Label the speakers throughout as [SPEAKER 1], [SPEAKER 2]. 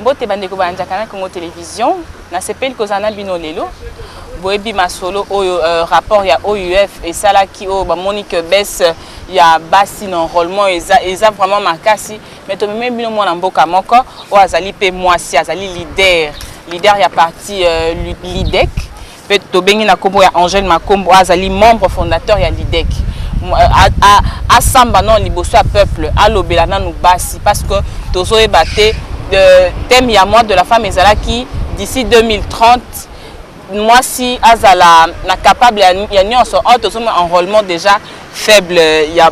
[SPEAKER 1] mbote bandeko bayanjaka na congo télévision nasepeli kozala na bino lelo boyebi masolo oyo uh, rapport ya ouf esalaki oyo bamoni que baisse ya basi na enrôlement eza, eza vraiment makasi Mais tomemeli bino mwana mboka moko oyo azali mpe mwasi azali leader leader ya parti euh, lidec mpe tobengi na nkombo ya angèle makombo azali membre fondateur ya lidec asamba nano liboso ya peuple alobela nanu basi parce que tozoyeba te thème ya mois de la femme ezalaki d'ici 2030 mwasi azala na capable ya nyonso oyo tozomona enrôlement déjà faible ya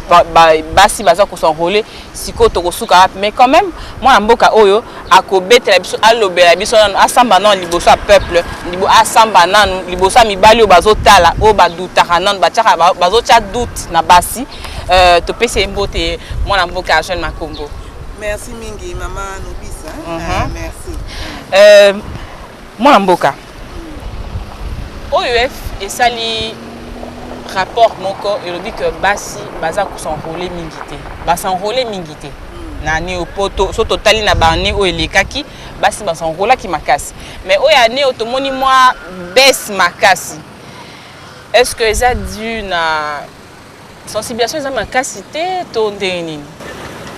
[SPEAKER 1] basi baza kosenrole sikoyo tokosuka wapi mais quand même mwana mboka oyo akobetela biso alobela biso nanu asamba nanu liboso ya peuple asamba nanu liboso ya mibali oyo bazotala oyo badutaka nanu batiaka bazotya doute na basi euh, topesi ye mbote mwana mboka ya jeune makombo merci mingi
[SPEAKER 2] mama nobisa uh mhm. -huh. Ah, merci euh,
[SPEAKER 1] mwana mboka OEF esali rapport moko elobi que basi baza kosenrole mingi te basenrole mingi te na neo mpo so totali na baane oyo elekaki basi basenrolaki makasi mais oyo ane oyo tomoni mwa bese makasi est ce que eza due na Sensibilisation eza makasi te to ndenge nini?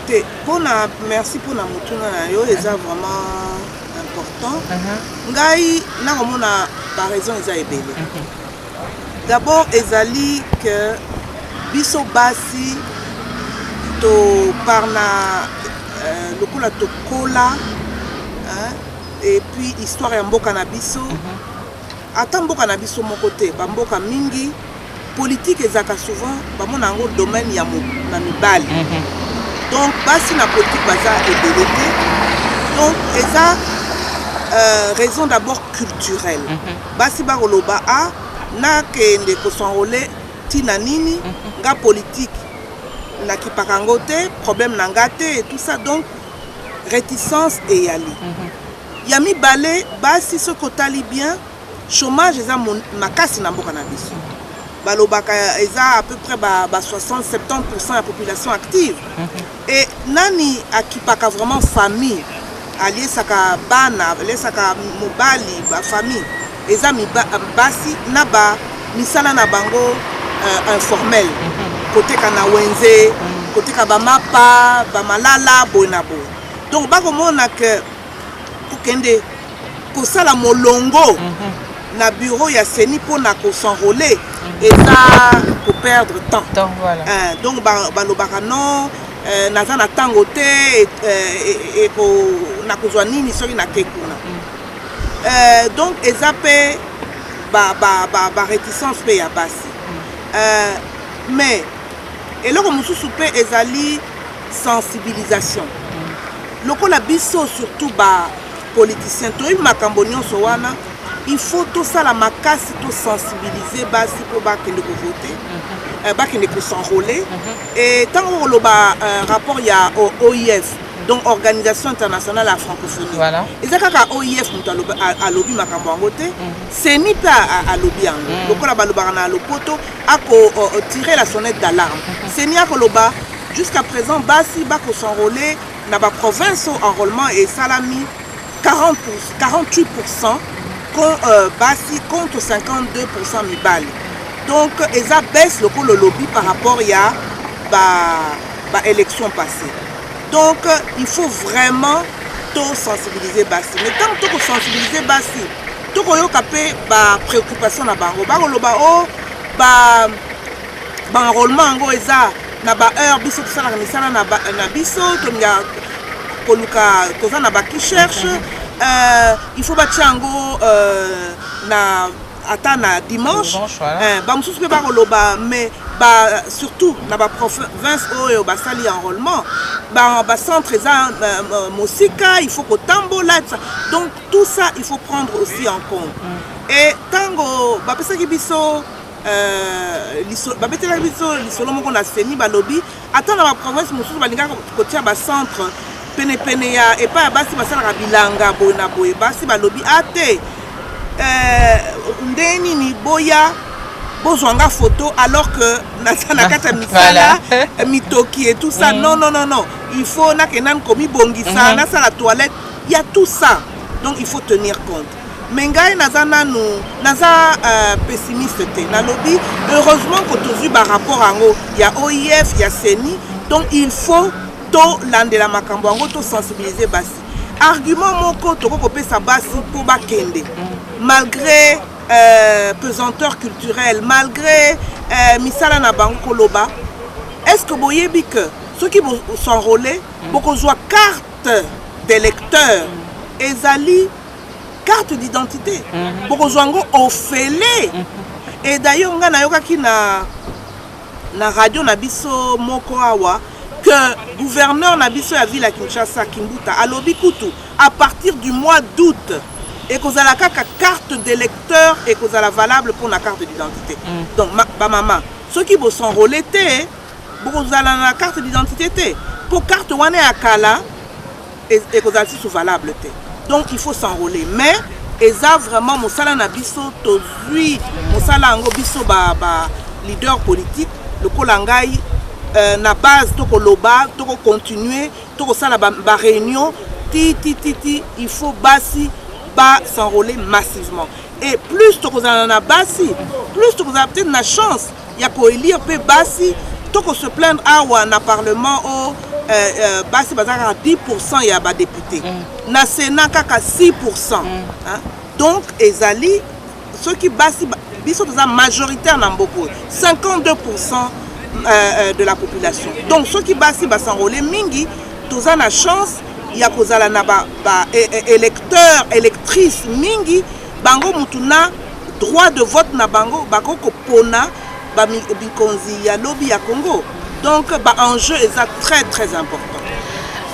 [SPEAKER 1] Te,
[SPEAKER 2] pona merci pona motuna na yo eza vraiment important. Uh -huh. Ngai nakomona ba raison eza ebele. Uh -huh. D'abord ezali que biso basi toparna euh, lokola tokola et puis histoire ya mboka na biso. Uh -huh. Ata mboka na biso moko te, ba mboka mingi politique ezaka souvent ba mona ngo domaine ya na mibali. Mm -hmm. Donc basi na politique baza ebele te. Donc eza euh, raison d'abord culturelle. Mm -hmm. Basi ba koloba a ah, na kende ko s'enrôler tina nini mm -hmm. nga politique na kipaka ngo te, problème na nga te et tout ça. Donc réticence eyali. Mm -hmm. Ya mibale basi soki otali bien chomage eza makasi na mboka na biso balobaka eza à peu près ba, ba 60 70% ya population active mhm. et nani akipaka vraiment famille aliesaka bana aliesaka mobali bafamille eza basi na ba misala na bango uh, informel mhm. koteka na wenze mhm. koteka bamapa bamalala boye na boye donc bakomona ke kokende kosala molongo mm -hmm. na bureau ya seni mpo na kosenrole mm -hmm. eza koperdre temps, temps voilà. euh, donc balobaka ba non euh, naza na ntango te euh, nakozwa nini soki nake kuna mm. euh, donc eza mpe bareticence mpe ya basi mm. euh, mais eloko mosusu mpe ezali sensibilisation lokola biso surtout ba politicien toyebi makambo nyonso wana il faut tosala makasi tosensibilize basi mpo bakende kovote mhm. eh, bakende kosenrole mhm. e ntango koloba eh, rapport ya oif donc organisation internationale ya francophonie voilà. eza kaka
[SPEAKER 1] oif
[SPEAKER 2] moto alobi makambo yango te mhm. seni mpe alobi yango lokola balobaka na lopoto akotire la sonnette d'alarme seni akoloba Jusqu'à présent basi bako s'enrôler na ba provinces au enrôlement et salami 40 pour, 48% con, euh, basi contre 52% mibali. Donc eza baisse loko le lobby par rapport ya ba ba élection passée. Donc il faut vraiment to sensibiliser basi. Mais tant que to sensibiliser basi, to koyoka pe ba préoccupation na bango. Ba loba oh ba Ba enrollement yango eza na ba heure biso tosalaka misala na, ba, na biso tolingaka koluka toza na bakicherche euh, il faut batya yango euh, na ata na dimanche euh, bamosusu mpe bakoloba mais ba, surtout na baprovince oyo basali enrôlement bacentre ba eza euh, euh, mosika il faut kotambola donc tout ça il faut prendre aussi en compte mm. et ntango bapesaki biso Euh, babetelaki biso lisolo moko na seni balobi ata na baprovince mosusu balingaka kotia bacentre penepene ya epai ya basi basalaka bilanga boye na boye basi balobi a ah, te euh, ndenge nini boya bozwa nga foto alors que naza na kati ya misala mitoki et tout ça mm. non non non non il faut nakenda komibongisa mm-hmm. nasala toilette ya tout ça donc il faut tenir compte mais ngai naza nanu naza uh, pessimiste te nalobi heureusement ko tozwi barapport yango ya oif ya ceni donc il faut tolandela makambo yango tosensibilize basi argument moko tokoki kopesa basi mpo bakende malgré euh, pesanteur culturelle malgré euh, misala na bango koloba est ce que boyebi que soki bosenrole bokozwa carte d'électeur ezali carte d'identité mhm. bokozwa yango ofele mhm. et d'ailleurs ngai nayokaki na na radio na biso moko awa que gouverneur na biso ya ville ya kinshasa kimbuta alobi kutu à partir du mois d'août ekozala kaka carte d'électeur ekozala valable mpo na carte d'identité mm. donc bamama soki bosenrole te bokozala na carte d'identité te mpo carte wana ya kala ekozala lisusu valable te donc il faut s'enrôler mais eza vraiment mosala na biso tozwi mosala yango biso ba, ba leader politique lokola ngai euh, na base tokoloba tokocontinue tokosala baréunion ba titititi il faut basi ba s'enrôler massivement et plus tokozala na basi plus tokozala peut-être na chance ya koelire mpe basi to ko se plaindre awa na parlement o oh, euh, euh, basi baza kaka 10 pourcent ya badepute mm. na sénat kaka 6 pourcent mm. donc ezali soki basi biso toza majoritaire na mboka oyo 52 pourcent euh, euh, de la population donc soki basi basanrole mingi toza na chance ya kozala na ba, ba e, e, électeurs électrices mingi bango mutu na droit de vote na bango bako kopona ba bikonzi ya lobi ya Congo donc ba enjeu eza très très important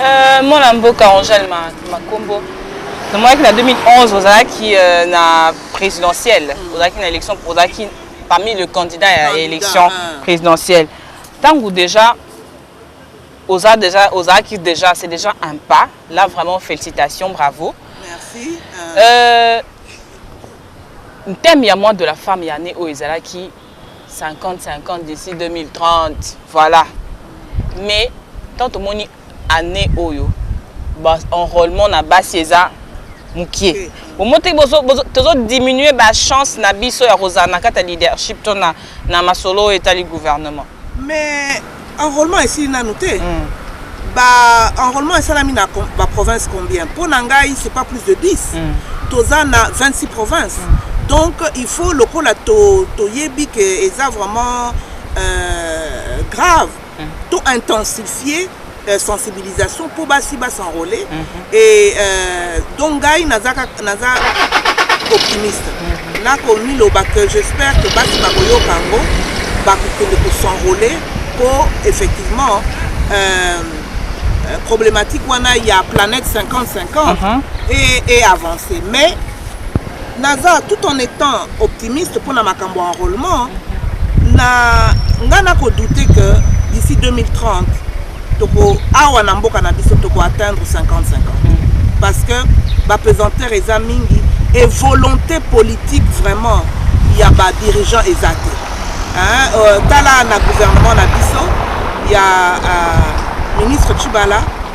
[SPEAKER 2] euh,
[SPEAKER 1] mwana mboka Angèle Makombo namonaki na 2011 ozalaki euh, na présidentielle mm. ozalaki na élection ozalaki parmi le candidat ya élection ah. présidentielle ntango déjà Oza dejà ozalaki dejà c'est dejà un pas là vraiment félicitations bravo. Merci. Uh...
[SPEAKER 2] Euh,
[SPEAKER 1] thème ya mois de la femme ya année oyo ezalaki 50-50 d'ici 2030 voilà mais tant tomoni année oyo enrôlement na basi eza mokie omo te tozodiminue bachance na biso ya kozala na kati ya leadership to na, na masolo oyo etali gouvernement Mais
[SPEAKER 2] enrôlement esili nanu te. Mm. Ba enrôlement esalami na ba province combien? Mpo na ngai c'est pas plus de 10. Mm. Toza na 26 provinces. Mm. Donc il faut lokola to toyebi que eza vraiment euh, grave. Mm. To intensifier euh, sensibilisation mpo basi ba s'enrole mm -hmm. et euh, donc ngai naza, naza optimiste mm -hmm. nakomiloba que j'espère que basi bakoyoka yango bakokende kosenrole mpo effectivement euh, euh, problématique wana ya planète 50-50 uh -huh. et, et avancer mais Naza tout en etant optimiste pona makambo ya enrolement na nga na ko douter que d'ici 2030 toko awa na mboka na biso toko atteindre 50-50 parce que ba pesanteur eza mingi et volonté politique vraiment ya ba dirigeant eza te hein, euh, tala na gouvernement na biso ya euh, ministre Chibala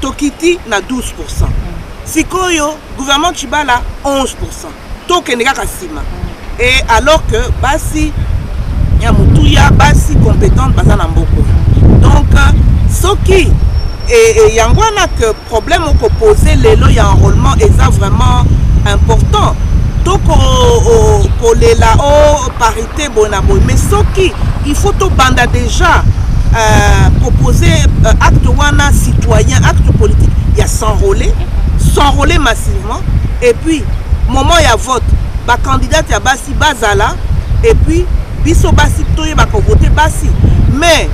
[SPEAKER 2] tokiti na 12 pourcent sikoyo gouvernement chibala 11 pourcent tokende kaka nsima et alors que basi ya motuya basi compétente baza na mboko donc soki e, e, yango wana que problème okopose lelo ya enrôlement eza vraiment important tokolela o oh, paris te boye na boye mais soki il faut tobanda déjà euh, proposer euh, acte wana citoyen acte politique ya s'enrôler s'enrôler massivement et puis moment ya vote bacandidate ya basi bazala et puis biso basi toyebaka vote basi mais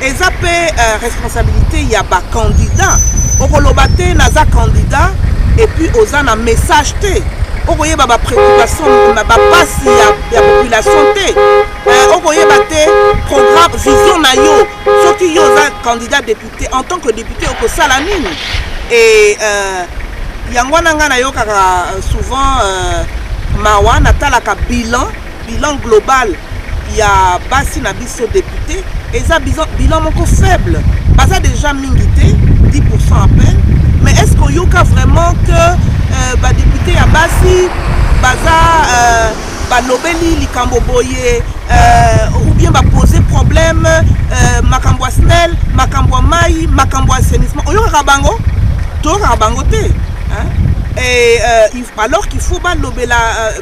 [SPEAKER 2] eza pe uh, responsabilité ya ba candidat okoloba te naza candidat et puis oza na message te okoyeba ba préoccupation ba pasi ya, ya population te uh, okoyeba te programme vision na yo soki yo oza candidat député en tant que député okosala nini et uh, yango wana ngai nayokaka souvent uh, mawa natalaka bilan Bilan global ya basi na biso depute eza bilan moko faible baza deja mingi te 10 à peine mais est ce koyoka vraiment que euh, badepute ya basi baza euh, balobeli likambo boye euh, ou bien bapose problème euh, makambo ya snel makambo ya mai makambo ya assainissement oyokaka bango toyokaka bango te hein? Et, euh, alors qu'il faut balobela euh,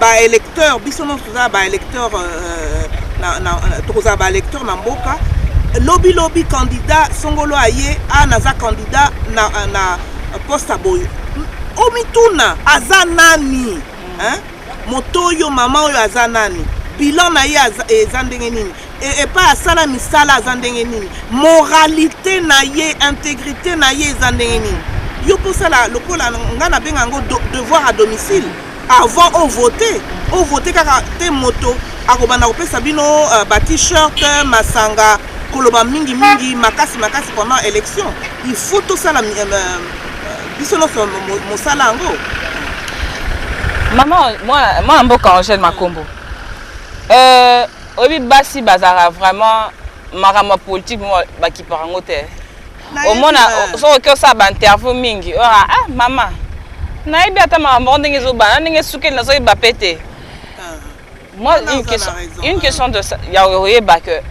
[SPEAKER 2] ba électeurs biso nyonso tozala ba électeurs euh, na, na, tokozala ba électeurs na mboka lobi lobi candidat songolo aye a naza candidat na, na poste ya boye omituna aza nani hein? moto oyo mama oyo aza nani bilan na ye eza ndenge nini e, epai asala misala aza ndenge nini moralité na ye intégrité na ye eza ndenge nini yo mpo osala lokola ngai nabenga yango devoir à domicile avant o vote o vote kaka te moto akobanda kopesa bino uh, ba t-shirt masanga koloba mingi mingi makasi makasi pendant élection il faut tosala uh, uh, biso nyonso mosala yango mama
[SPEAKER 1] mwana mboka angèle makombo euh, oyebi basi bazalaka vraiment makambo ya politike bakipaka yango te omona soki oki osala bainterview mingi ora ah mama nayebi ata makambo yango ndenge ezobana ndenge esukeli nazoyeba mpe te ah. moi une question, une question de ya oyeba que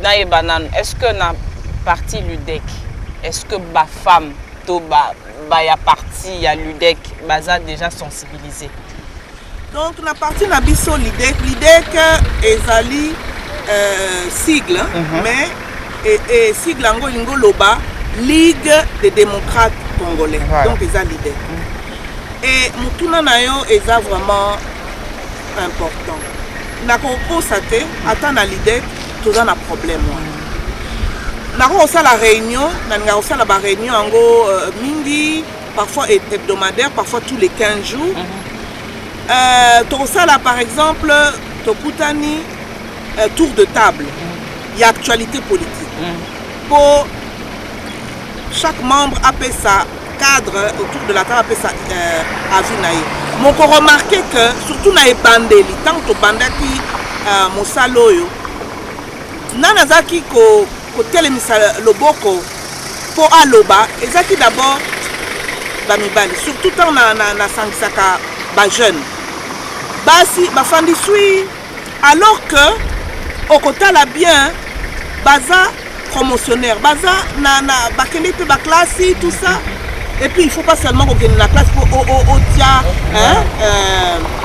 [SPEAKER 1] nayeba nanu est ce que na parti ludec est ce que bafemme to ba, ba ya parti ya ludec baza déjà sensibilisé Donc
[SPEAKER 2] na parti na biso l'idée l'idée que ezali euh, sigle uh mhm. -huh. mais et, et sigle yango elingi oloba Ligue des démocrates congolais voilà. donc eza l'idée mm -hmm. et motuna na yo eza vraiment important nakokosa te ata na l'idée toza na problème wana mhm. nakoki kosala réunion nalingaka kosala baréunion yango euh, mingi parfois hebdomadaire parfois tous les 15 jours mm -hmm. euh, tokosala par exemple tokutani euh, tour de table mm. ya actualité politique mm. mpo chaque membre apesa cadre autour de la table apesa euh, avis na ye moko remarke que surtout na ebandeli ntango tobandaki euh, mosala oyo nani azalaki ko kotelemisa loboko mpo aloba ezalaki d'abord bamibali surtout ntango nasangisaka na, na, na bajeune basi bafandi swi alors que okotala bien baza promotionnaire baza na, na bakende mpe baklasi tout ça et puis il faut pas seulement kokende na classe mpo otia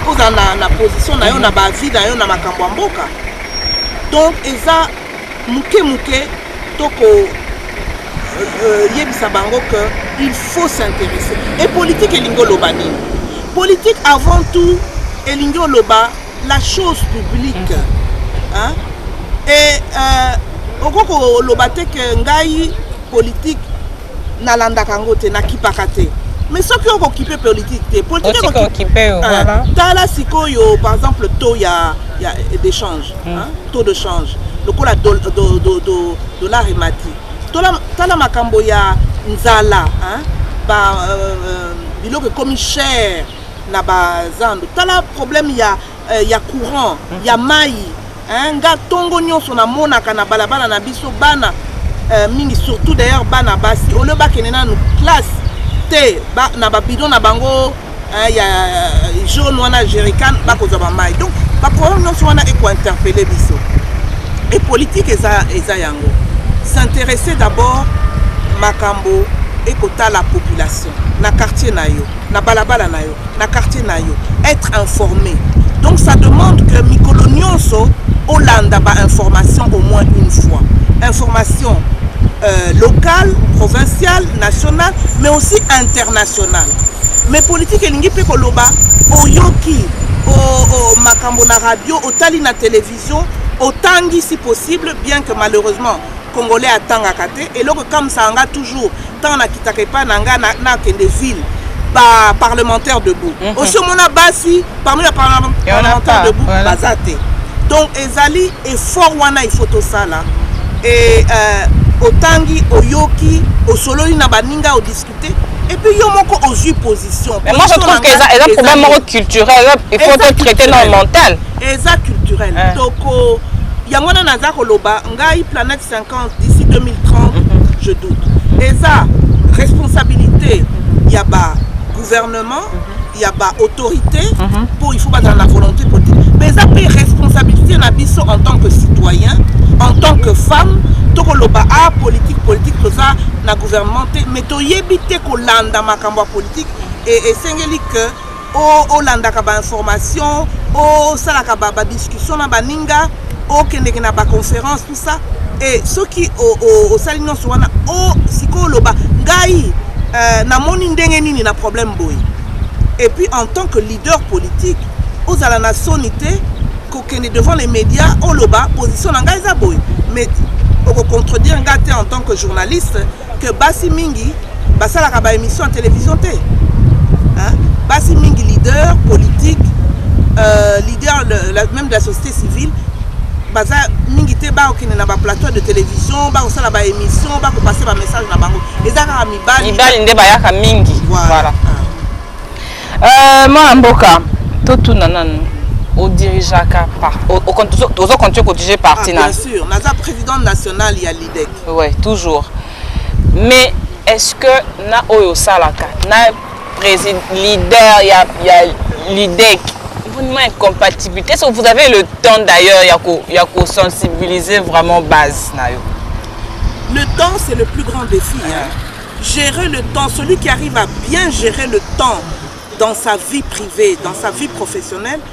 [SPEAKER 2] ozala euh, na, na position na yo na bavie na yo na makambo ya mboka donc eza Moke moke to ko euh, yebisa bango que il faut s'intéresser. Et politique elingi oloba nini? Politique avant tout elingi oloba la chose publique. Mm-hmm. Hein? Et euh, okoki koloba te que ngai politique nalandaka yango te nakipaka te mais soki okokipe politique te politiquetala
[SPEAKER 1] sikoyo
[SPEAKER 2] par exemple taux ya, ya d'échange mm. hein, taux de change lokola dollar emati tala makambo ya nzala hein, ba, euh, euh biloko ekomi cher na bazando tala problème ya eh, ya courant mm. ya mayi eh, nga ntongo nyonso namonaka na balabala na biso bana eh, mingi surtout d'ailleurs bana basi olio bakende nanu classe te ba, na babidon na bango eh, ya eh, jaune wana jerican bakozwa bamai donc baproblème nyonso wana ekointerpele biso e politike eza, eza yango s'intéresser d'abord makambo ekotala population na quartier na yo na balabala na yo na quartier na yo être informé donc ça demande que mikolo nyonso olanda ba information au moins une fois information euh, locale provinciale nationale mais aussi internationale mais politique elingi mpe koloba oyoki o, o, makambo na radio otali na télévision otangi si possible bien que malheureusement congolais atangaka te eloko ekamwisaka nga toujours ntango nakitaka epai na nga nakende na ville ba parlementaire debout mm -hmm. osi omona basi parmi ba parlementaire debout voilà. baza te donc ezali effort wana il faut tosala e euh, otangi oyoki osololi na baninga odis Et puis yo moko ozui position. Mais moi je trouve que eza
[SPEAKER 1] eza problème moko culturel, il faut te traiter dans mental. Eza culturel.
[SPEAKER 2] Hein. Donc oh, yango wana naza koloba ngai planète 50 d'ici 2030 mhm. je doute. Eza responsabilité ya ba gouvernement mhm. ya ba autorité mhm. mpo il faut bazala na volonté politique mais eza mpe responsabilité na biso en tant que citoyen en tant que femme tokoloba a ah, politique politique toza na gouvernement te mais toyebi te kolanda makambo ya politique esengeli que olandaka bainformation osalaka badiscussion na baninga okendeke na baconférence tout ça et soki osali nyonso wana o sikoyo oloba ngai euh, namoni ndenge nini na problème boye et puis en tant que leader politique ozala na soni te kokende devant les médias oloba position na ngai eza boye mais okocontredire ngai te en tant que journaliste que basi mingi basalaka ba émission ya télévision te hein? basi mingi leader politique euh, leader de la, même de la société civile baza mingi te bakokende na baplateau de télévision bakosala baémission bakopase bamessage na bango eza kaka mibali mibali nde bayaka
[SPEAKER 1] mingi voilà, voilà. Ah. Euh, mwana mboka totuna nanu odirigeaka ozo continue kodirige parti ah, na bien sûr naza
[SPEAKER 2] président national ya Ouais, toujours.
[SPEAKER 1] Mais est-ce que na oyo osalaka na président leader ya, ya l'IDEC vraiment incompatibilité est-ce que vous avez le temps d'ailleurs ya ko ya ko sensibiliser vraiment base na yo le
[SPEAKER 2] temps c'est le plus grand défi hein. gérer le temps celui qui arrive à bien gérer le temps dans sa vie privée dans sa vie professionnelle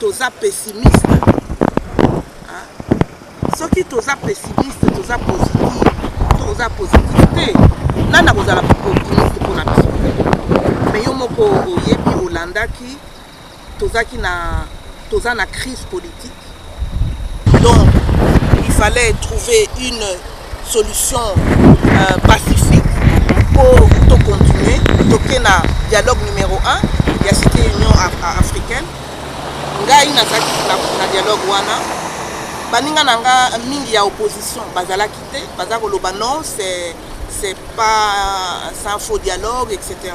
[SPEAKER 2] toza pessimiste hein? soki toza pessimiste toza positif toza positif te nani akozala optimiste mpo na biso me yo moko oyebi olandaki tozaki na toza na crise politique donc il fallait trouver une solution euh, pacifique mpo tocontinue toke na dialogue numéro 1 ya cité union africaine ngai nazalaki na dialogue wana baninga na nga mingi ya opposition bazalaki te baza koloba non c'est pas un faux dialogue etc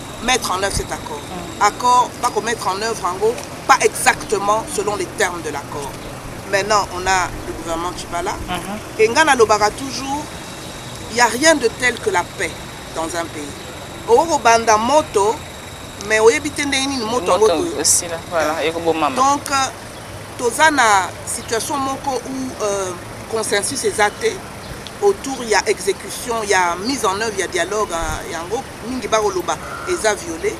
[SPEAKER 2] mettre en œuvre cet accord accord bako mettre en œuvre yango pas exactement selon les termes de l'accord maintenant on a le gouvernement chibala uh -huh. et nga nalobaka toujours il y a rien de tel que la paix dans un pays okoki kobanda moto mais oyebi te ndenge nini moto yango
[SPEAKER 1] donc euh,
[SPEAKER 2] toza na situation moko où euh, consensus eza te autour ya exécution ya mise en œuvre ya dialogue euh, yango mingi bakoloba eza viole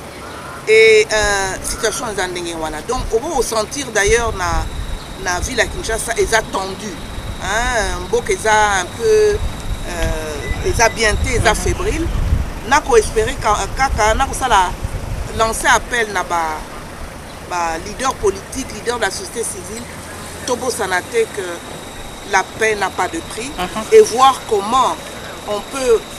[SPEAKER 2] et euh, situation eza ndenge wana donc obo sentir d'ailleurs na, na ville ya kinshasa eza tendu hein, mboka eza un peu euh, eza bien te eza mhm. fébrile nakoespere kaka nakosala lancer appel na ba, ba leader politique leader de la société civile tobosana te que la paix n'a pas de prix uh mhm. -huh. et voir comment on peut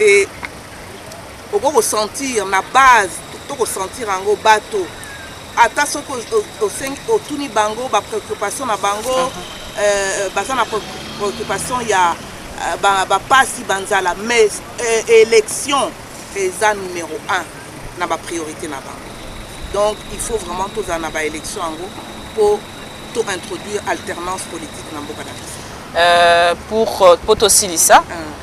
[SPEAKER 2] et okoki kosentir na base to kosentir yango bato ata soki otuni bango bapreoccupation na bango uh -huh. euh, baza na préoccupation ya euh, bapasi ba banzala mais euh, élection eza numéro 1 na bapriorité na bango donc il faut vraiment tozala na baélection yango mpo to introduire alternance politique na mboka na biso euh, pour mpo euh,
[SPEAKER 1] tosilisa uh -huh.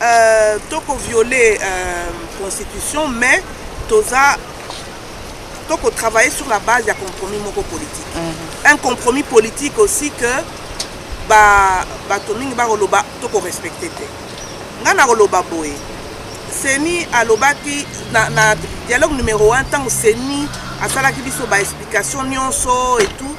[SPEAKER 2] Euh, to ko violer euh, constitution mais toza to ko travailler sur la base ya compromis moko politique mm -hmm. un compromis politique aussi que ba bato mingi bakoloba to ko respecter te ngai nakoloba boye seni alobaki na, na dialogue numero 1 ntango seni asalaki biso baexplication nyonso etout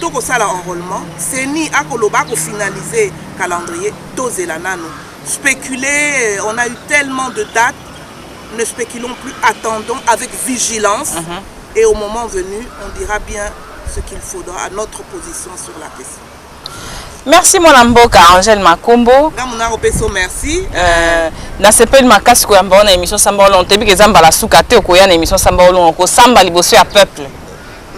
[SPEAKER 2] toko sala enrôlement ceni ako loba ako finaliser calendrier tozela nanu spéculer on a eu tellement de dates ne spéculons plus attendons avec vigilance uh mhm. -huh. et au moment venu on dira bien ce qu'il faudra à notre position sur la question merci
[SPEAKER 1] mwana mboka angel makombo nga monako peso merci
[SPEAKER 2] uh, eh,
[SPEAKER 1] nasepeli makasi koyamba yo na émission samba olongo toyebi ke eza mbala suka te okoya na émission samba olongo kosamba liboso ya peuple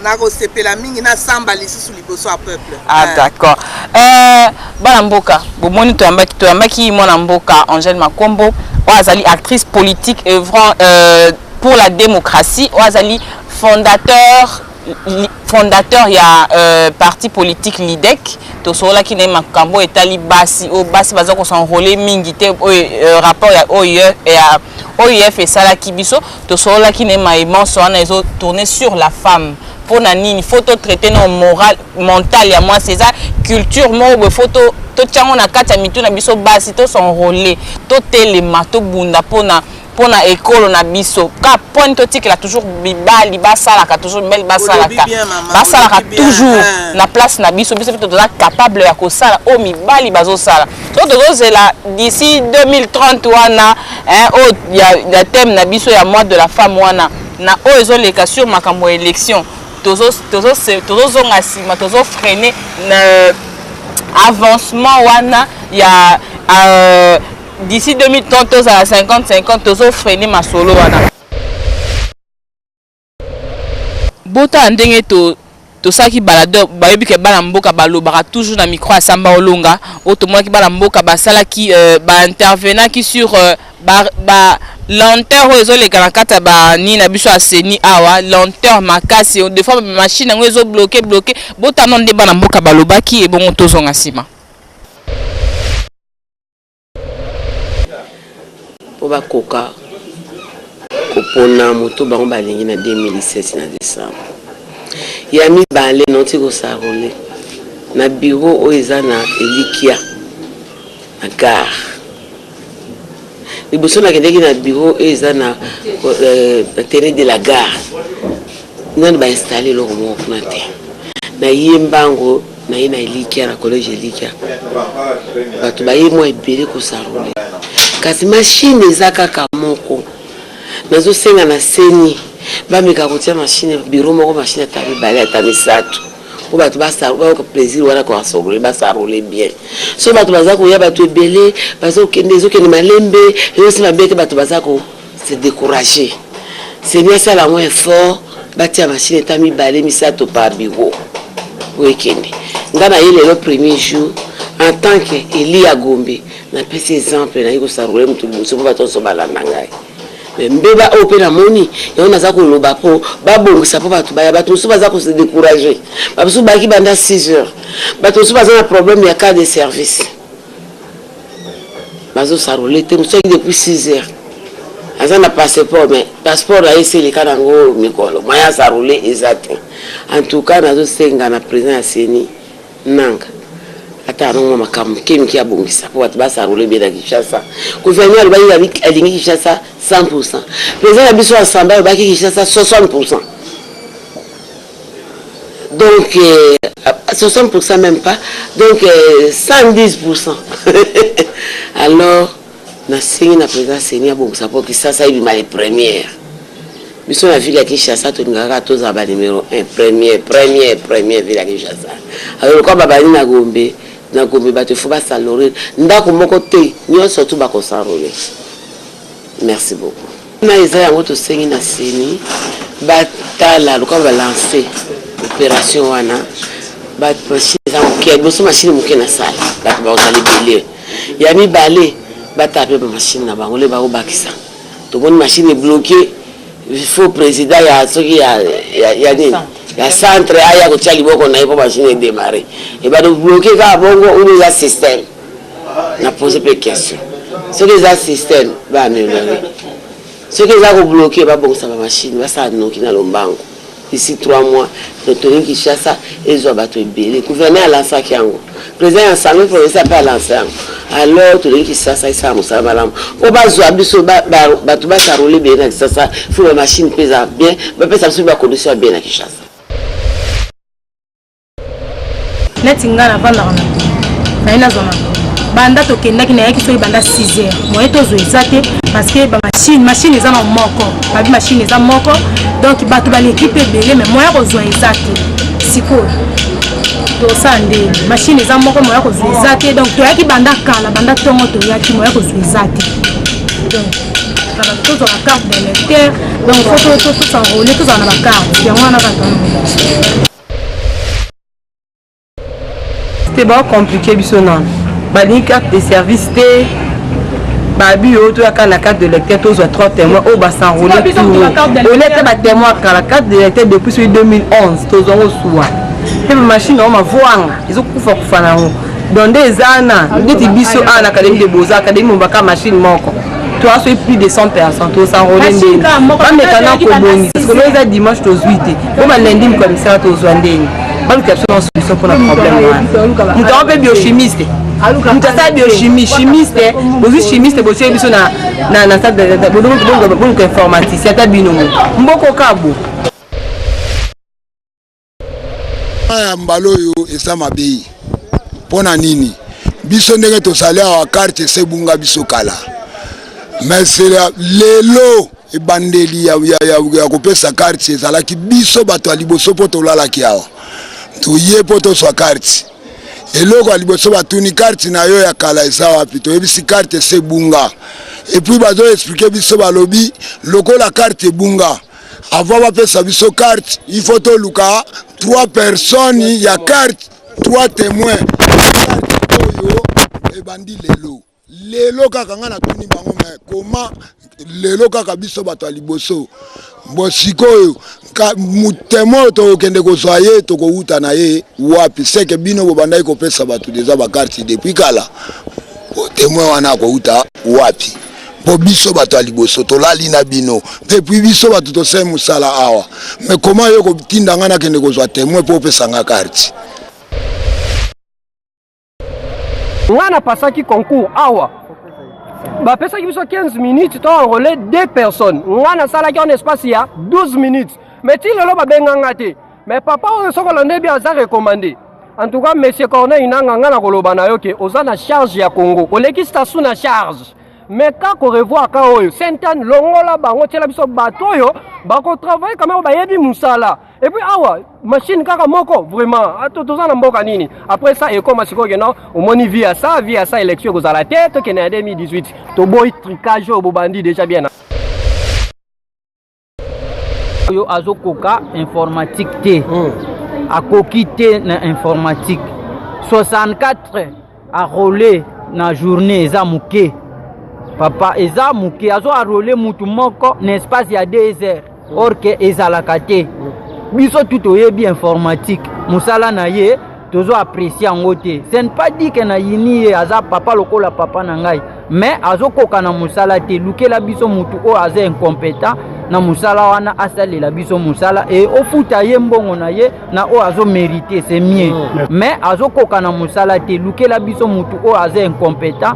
[SPEAKER 1] nakosepela
[SPEAKER 2] mingi nasamba lisusu liboso ya peuple ah, eh. d'accord
[SPEAKER 1] eh, bana mboka bomoni toyambaki toyambaki mwana mboka angèle makombo oyo azali actrice politique œuvrant euh, pour la démocratie oyo azali fondateur fondateur ya euh, parti politique lidec tosololaki na ye makambo etali basi oyo basi baza kosenrole mingi te oyo euh, rapport ya oef esalaki biso tosololaki ne mai manso wana ezo tourner sur la femme mpo na nini fo to traite no moral mental ya mwasi eza culture moko boye fo totya yango na kati ya mitu na biso basi tosenrole totelema tobunda mpo na mpo na ekolo na biso ka poni totikela toujours mibali basalaka toujours mibali basalaka basalaka toujours na place na biso biso mpe toza capable ya kosala oyo mibali bazosala to tozozela d'ici 2030 wana hein, oyo ya, ya thème na biso ya mois de la femme wana na oyo ezoleka sur makambo ya élection tozozonga nsima tozofreine na avancement wana ya euh, d'ici 2030 tozala 50 50 tozofreine masolo wana Botala ndenge to tosalaki balade bayebi ke bana mboka balobaka toujours na micro ya samba olonga oyo tomonaki bana mboka basalaki euh, baintervenaki sur euh, ba, ba lenteur oyo ezoleka na kati ya bani na biso ya seni awa lenteur makasi de fois machine yango ezobloke bloke botano nde bana mboka balobaki ebongo tozonga nsima
[SPEAKER 3] mpo bakoka kopona moto bango balingi na 2017 na décembre ya mibale nauti kosarole na biro oyo eza na elikia na gare liboso nakendeki na biro oyo eza na euh, terrain de la gare nani bainstalle eloko moko kuna te nayembango naye na elikya na collège elikya bato baye mwa ebele kosarole kasi mashine eza kaka moko nazosenga na seni bameka kotia mashine biro moko mashine ata mibale ata misato mpo bato bayoka plaisir wana koasarole basarole bien so bato baza koya bato ebele baza kokende ezokende malembe eyosi mabe te bato baza ko se decourager seni asala yango effort batia mashine ta mibale misato par bureau oyo ekende ngai naye lelo premier jour en tant que eli ya gombe napesi exemple naye kosarole motu liboso mpo bato nyonso balanda ngai me mbeba oyo mpe namoni yango naza koloba mpo babongisa mpo bato baya bato mosusu baza kose decourage bamosusu bayaki banda 6 heures bato mosusu baza na problème ya cas de service bazo sarole te mosusu ayaki depuis 6 heures aza na passeport mais passeport na ye esi eleka na yango mikolo moye asarole eza te en tout cas nazosenga na président ya seni nanga ata anongoma makambo mike mike abongisa mpo bato basarole be na kinshasa gouvernement alobaki alingi kinshasa 100 pourcent président na biso asamba alobaki kinshasa 60 pourcent donc 60 pour cent meme pas donc 110 pour cent alors nasengi na président seni abongisa mpo kisasa ebima le première biso na ville ya kinshasa tolingaka kaka tozala banumero 1 premier premier premier ville ya kinshasa alors lokola babandi na gombe na gombe bato efo basalore ndako moko te nyonso tu bakosanrole Merci beaucoup. Na eza yango tosengi na seni batala lokola balance operation wana bamashine eza moke ya liboso mashine moke na sala bato bakozala ebele ya mibale batala mpe bamashine na bango le bakobakisa tomoni mashine ebloke faux président ya soki ya, ya, ya nini ya centre aya kotya liboko na ye mpo mashine edemare ebado bloke kaka bongo oyo eza système na pose mpe question soki eza système baameliore soki eza kobloke babongisa bamashine basala noki na lombango ici trois mois retoni kinshasa ezwa bato ebele gouverneur alansaki yango président ya assemblée provincial mpe alansa yango alors tolingi kinshasa esala mosala malamu mpo bazwa biso bato basarole ebele na kinshasa fo bamashine mpe eza bien bapesa biso bacondition ya bien na kinshasa
[SPEAKER 4] neti ngai navandaka na ntongo naye nazwa na ntongo banda tokendaki nayaki soki banda 6 heures moye tozwa eza te parce que bamashine mashine eza na moko babi mashine eza moko donc bato baleki mpe ebele mai moya kozwa eza te sikoyo tosala ndenge mashine eza moko moya kozwa eza te donc toyaki banda kala banda ntongo toyaki moya kozwa eza te donc na bato tozwaka carte de lecteur donc fo tosanrole tozala na bacarte yango wana bato
[SPEAKER 5] te bao compliquer biso nano balingi carte de service te babi oyo toyaka na carte de lecteur tozwa 3 témoin oyo basenrole olete batémoin kala carte de lecteur depuis soki 2011 tozwa ngo suwa mpe bamashine yango mavoanga ezokufa kufa na yango donc nde eza na ndeti biso awa na akademi de boza akademi mombaka mashine moko toi soki plus de 100 personnes tosanrole ndenge bameka na kobongisa sikoyo eza dimanche tozwi te po balendi mokwa misala tozwa ndenge baluka biso na solution mpona problème wana moto yango mpe biochimiste moto asala biochimie chimiste bozwi chimiste botie biso na boluka informaticien ata bino mo mboko kabo
[SPEAKER 6] ya mbala oyo eza mabe mpo na nini biso ndenge tozali awa karte esebunga biso kala mais lelo ebandeli ya, ya, ya, ya kopesa karte ezalaki biso bato ya liboso mpo tolalaki awa toye mpo toswa karte eloko ya liboso batuni karte na yo ya kala eza wapi toyebisi karte esebunga epuis bazoexplike biso balobi lokola karte ebunga Avant bapesa biso carte, il faut toluka trois personnes ya carte, trois témoins oyo ebandi lelo lelo kaka ngai natuni bango me koma lelo kaka biso bato ya liboso bo sikoyo motema oyo tokokende kozwa ye tokowuta na ye wapi seke bino bobandaki kopesa bato deja bakarte depuis kala motema wana akowuta wapi mpo biso bato ya liboso tolali na bino te puis biso bato tosali mosala awa me koma yo kotinda ngai nakende kozwa temoin mpo opesa ngai karti
[SPEAKER 7] ngai napasaki concours awa bapesaki biso 15 minutes to enrole 2 personnes ngai nasalaki en espace ya 12 minutes mais ti lelo babenga ngai te Mais papa oyo soki olande bien aza recommande. En tout cas monsieur Corneille Nanga nga na koloba na yo ke oza na charge ya Congo. Oleki Sassou na charge. Mais ka ko revoir ka oyo Saint-Anne longola bango tiela biso bato oyo bako travailler quand même bayebi musala. Et puis awa machine kaka moko vraiment ato toza na mboka nini? Après ça ekoma sikoyo ke non omoni vie ya sa vie ya sa election ekozala te tokende na 2018. Toboyi tricage oyo bobandi déjà bien.
[SPEAKER 8] oyo azokoka informatique te mm. akoki te na informatique 64 arole na journée eza moke papa eza moke azo arole mutu moko na espace ya 2 heures mm. or ke ezalaka te mm. biso tu toyebi informatique mosala na ye tozo apprécier yango te ce n'est pas dit que na yini ye aza papa lokola papa na ngai mais azokoka na mosala te lukela biso motu oyo aza incompétent na mosala wana asalela biso mosala e ofuta ye mbongo na ye na oyo azomerite se mie mm. mais azokoka na mosala te lukela biso motu oyo aza incompétent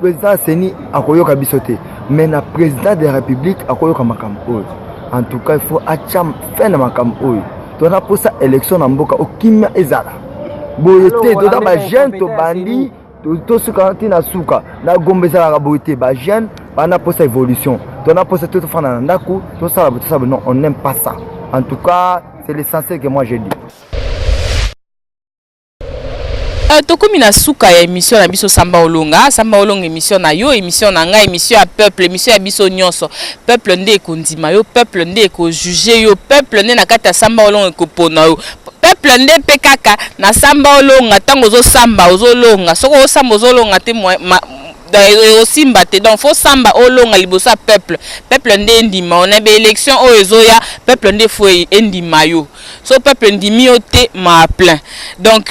[SPEAKER 9] président ya ceni akoyoka biso te mais na président de la république akoyoka makambo oyo en tout cas il faut atya fin na makambo oyo tona mposa élection na mboka okimia ezala boye te toza bajeune tobandi tosuka ti na suka na gombe ezalaka boye te bajeune bana mposa évolution tona mposa te tofanda na ndako tosala boye tosala boye non on aime pas ça en tout cas c'est l'essentiel que moi je dis
[SPEAKER 1] Euh, tokomi na suka ya émission na biso samba olonga samba olonga émission na yo émission na ngai émission ya peuple émission ya biso nyonso peuple nde ekondima yo peuple nde ekojuge yo peuple nde na kati ya samba olonga ekopona yo peuple nde mpe kaka na samba olonga ntango ozosamba ozolonga soki osamba ozolonga te osimba te donc fo samba olonga liboso ya peuple peuple nde endima yo na baélection oyo ezoya peuple nde fo endima yo so peuple ndimi yo te maa plein donc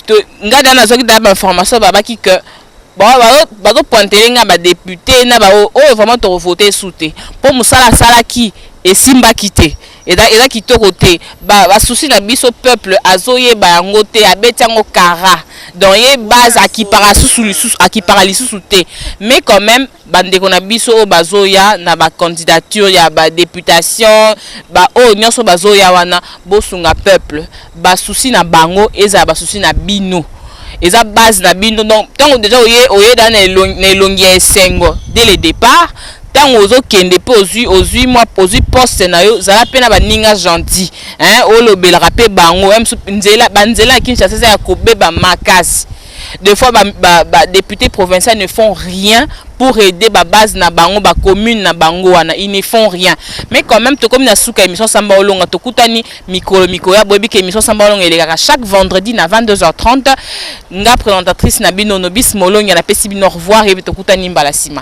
[SPEAKER 1] nga da nazwaki da bainformation babaki que bazopointele nga badepute na baoyo oyo oh, vraiment tokovote esu te mpo mosala asalaki esimbaki te eza, eza kitoko te basusi ba na biso peuple azoyeba yango te abeti yango kara donc ye base akipaka lisusu lisusu akipaka lisusu te mais quand même bandeko na biso oyo bazoya na bacandidature ya badeputation baoyo nyonso bazoya wana bosunga peuple basusi na bango ezala basusi na bino eza base na bino donc ntango deja oye oye da na elongi ya esengo dès le départ ntango ozokende mpe ozwi ozwi mwa ozwi poste na yo zala mpe na baninga gentil hein olobelaka mpe bango nzela banzela ya kinshasa eza ya kobeba makasi Des fois, ba, ba, ba députés provinciaux ne font rien pour aider ba base na bango, ba commune na bango wana, ils ne font rien. Mais quand même, to comme na suka émission Samba Olonga, to kutani mikolo mikoya boyebi que émission Samba Olonga elekaka chaque vendredi na 22h30. Nga présentatrice na bino Nobis Molonga na pesi bino au revoir et to kutani mbala sima.